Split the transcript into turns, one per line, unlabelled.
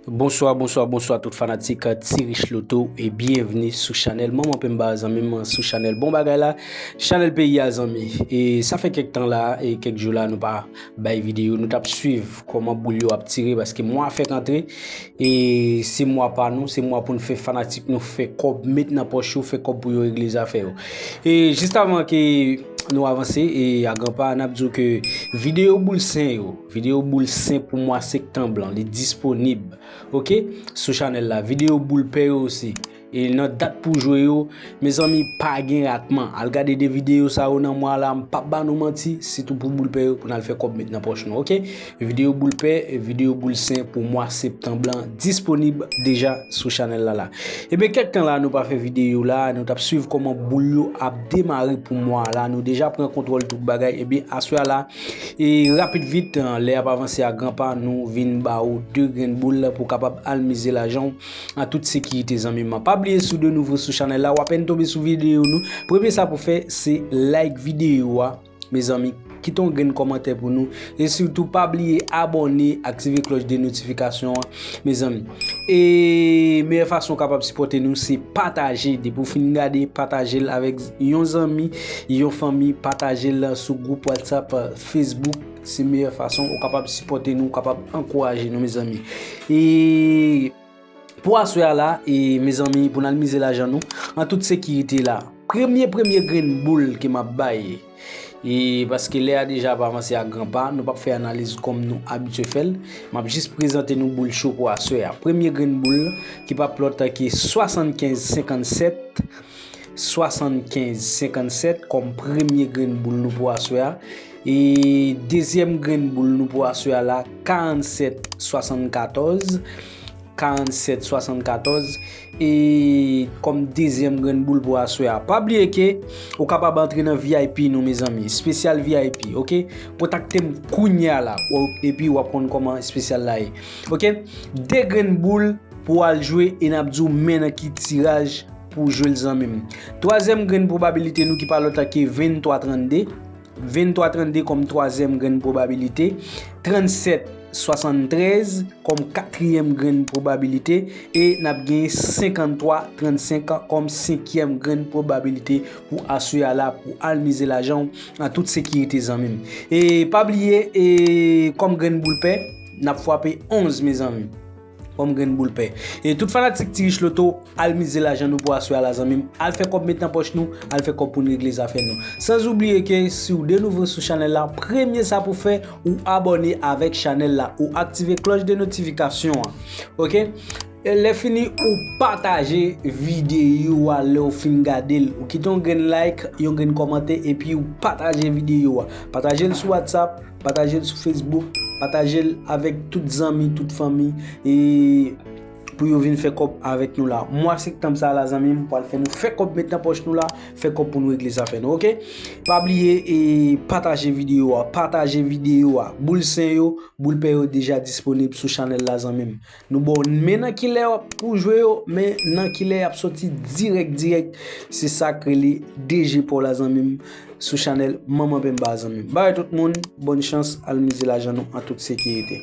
Bonswa bonswa bonswa tout fanatik ti rich loto e byenvni sou chanèl manman penba zanmi m sou chanèl bon bagay la chanèl peyi a zanmi e sa fè kèk tan la e kèk jou la nou pa bay videyo nou tap swiv kòman boul yo ap tire paske mwa a fèk antre e se mwa pa nou se mwa pou nou fè fanatik nou fè kòb met nan pòch yo fè kòb pou yo regle zafè yo e jist avan ke nou avanse e a gran pa nap di w ke videyo boul sen yo Video boul sen pou mwa sektanb lan li disponib ok sou chanèl la video boul pè yo osi e nan dat pou jwe yo mezanmi pa gen ratman al gade 2 video sa yo nan mwa la m pap ba nou manti sitou pou boul pè yo pou n al fè kòb met nan pòch nou ok video boul pè video boul sen pou mwa sektanb lan disponib deja sou chanèl la la e ben kèk tan la nou pa fè video la nou tap swiv kòman boul yo ap demare pou mwa la nou deja pran kontwòl tout bagay e ben aswè a la. E rapid vit, lè ap avanse a gran pa, nou vin ba ou 2 grenn boul pou kapab al mize lajan w an tout sekirite zanmi m. Pa bliye si w de nouvo sou chanèl la, w apèn tonbe sou videyo nou, premye sa pou fè se like videyo a mezanmi, kite yon grenn kòmantè pou nou e sitou pa bliye abòne, aktive klòch de notifikasyon an Mezanmi E meyè fason kapab sipòte nou se pataje Depi ou fin gade patajel avèk yon zanmi Yon fanmi patajel sou group whatsapp Facebook Se meyè fason ou kapab sipòte nou ou kapab ankouraje nou mezanmi E Pou aswè a la e mezanmi pou nan mize lajan nou An tout sekirite la Premye premye grenn boul ke map bay E paske lè a deja ap avanse a gran pa, nou pap fè analiz kòm nou abitye fè l. M ap jis prezante nou boul cho pou aswè a. Premye grenn boul lan, ki pa p lòt ke 75 57, 75 57 kòm premye grenn boul nou pou aswè a. E dezyèm grenn boul nou pou aswè a la 47 74. 47 74 e kòm dezyèm grenn boul pou aswè a pa bliye ke ou kapab antre nan vip nou mezanmi spesyal vip ok kontaktem kounya la epi wap konn kòman spesyal la ye ok 2 grenn boul pou al jwe e nap diw men nan ki tiraj pou jwel zanmim twazyèm grenn pwobabilite nou ki pa lòt la ke 23 32 23 32 kòm twazyèm grenn pwobabilite, 37 73 kòm katriyèm grenn pwobabilite e n ap gen 53 35 kòm senkyèm grenn pwobabilite pou aswè a la pou al mize lajan w an tout sekirite zanmi m. E pa bliye e kòm grenn boul pè, n ap fwape 11 mezanmi. Banm grenn boul pè. E tout fanatik ti rich loto, al mize lajan nou pou aswè a la zanmim, al fè kòb met nan pòch nou, al fè kòb poun regle zafè nou. Sans oubliye ke siw de nouvo sou chanèl la, premye sa pou fè, ou abòne avèk chanèl la, ou aktive klòch de notifikasyon an. Ok? Lè fini ou pataje videyo a lèw fin gadel, ou kite yon grenn like, yon grenn kòmante epiw pataje videyo a. Patajel sou WhatsApp. Pataje l sou Facebook, pataje l avèk tout zanmi, tout fanmi e pou yo vin fè kòb avèk nou la. Mwa sektanm sa la zanmi m pral fè nou fè kòb met nan pòch nou la, fè kòb pou nou regle zafè nou ok. Pa bliye e pataje videyo a, pataje videyo a. Boul sen yo, boul pè yo deja disponib sou chanèl la zanmi m. Nou baw men nan kilè pou w jwe yo men nan kilè yap soti dirèk dirèk se sak rele DG paw la zanmi m sou chanèl manman penba a zanmi m bay tout moun bòn chans al mize lajan nou an tout sekirite.